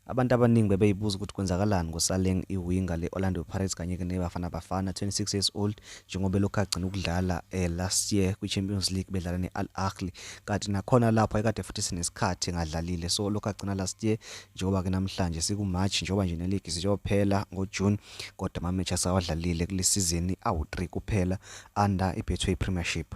Abantu abaningi bebeyibuza ukuthi kwenzakalani ngoSaleng iwinga le-Orlando Pirates kanye-ke neBafana Bafana 26 years old njengoba elokhu agcina ukudlala eh, last year kwi-Champions League bedlala ne-Al Ahly kanti nakhona lapho ekade futhi sinesikhathi engadlalile so lokhu agcina last year njengoba-ke namhlanje siku-March njengoba nje neligi siyophela ngo-June kodwa amamechi asawadlalile kule sizini awu-3 kuphela under iBetway Premiership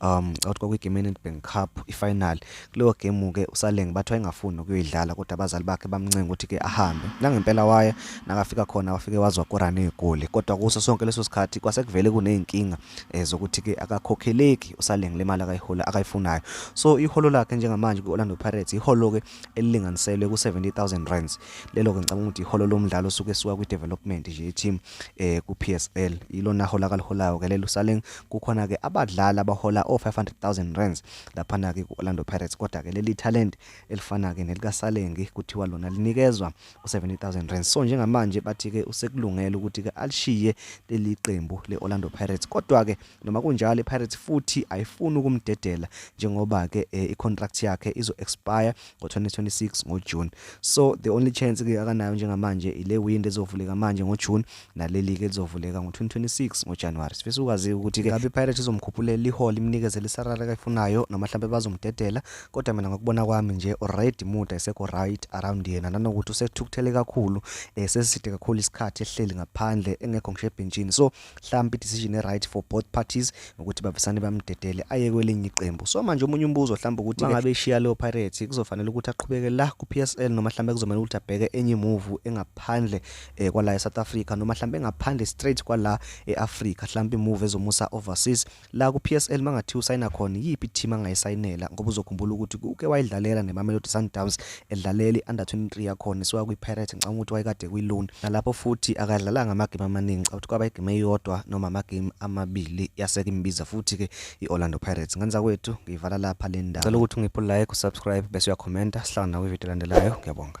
um ngicabanga ukuthi kwakuyigame yeNedbank Cup ifinal kuleyo game ke uSaleng bathi wayengafuni ukuyidlala kodwa abazali bakhe bamncenga ukuthi ke ahambe nangempela waya nakafika khona wafike wazwa korana igoli kodwa kuso sonke leso sikhathi kwasekuvele kunezinkinga eh, zokuthi ke akakhokheleki uSaleng le mali akayihola akayifunayo so iholo lakhe njengamanje kwi-Orlando Pirates iholo ke elilinganiselwe ku-70000 rands lelo ke ngicabanga ukuthi iholo lomdlalo suke suka kwi-development nje team eh ku PSL ilona hola kaliholayo ke lelo saleng kukhona ke abadlali abahola o 500,000 rands lapha na ke ku Orlando Pirates kodwa ke leli talent elifana ke nelika Salengi kuthiwa lona linikezwa u 70,000 rands so njengamanje bathi ke usekulungela ukuthi ke alishiye leli qembu le Orlando Pirates kodwa ke Noma kunjalo iPirates futhi ayifuni ukumdedela njengoba ke eh, icontract yakhe izo expire ngo-2026 ngoJune. So the only chance ke akanayo njengamanje ile window ezovuleka manje ngoJune naleli ke lizovuleka ngo-2026 ngoJanuary. Sifisa ukwazi ukuthi ke ngabe iPirates izomkhuphulela ihole imnikeze lesarara kayifunayo noma mhlawumbe bazomdedela kodwa mina ngokubona kwami nje already muda isekho right around yena nanokuthi usethukuthele kakhulu eh seside kakhulu isikhathi ehleli ngaphandle engekho ngisho ebhentshini. So mhlawumbe i-decision e-right for both parties ukuthi bavesane bamdedele aye kwelinye iqembu so manje omunye umbuzo mhlawumbe ukuthi mangabe ishiya leyo pirates kuzofanele ukuthi aqhubeke la ku-psl noma mhlawumbe kuzomele ukuthi abheke enye imuvu engaphandle um kwala e-south africa noma mhlawumbe engaphandle straight kwala e-afrika mhlawumbe imuvu ezomusa overseas La kuPSL mangathiwa usayina khona iyiphi team angayisayinela ngoba uzokhumbula ukuthi kuke wayidlalela neMamelodi Sundowns edlalela i-under 23 yakhona isuka kwiPirates ngicabanga ukuthi wayekade kwiLoan nalapho futhi akadlalanga amagame amaningi ngicabanga ukuthi kwaba igame eyodwa noma amagame amabili yaseke imbiza futhi ke i-Orlando Pirates ngenza kwethu ngiyivala lapha le ndaba cela ukuthi ungiphe like usubscribe bese uyakhomenta sihlangana nawe ivideo elandelayo ngiyabonga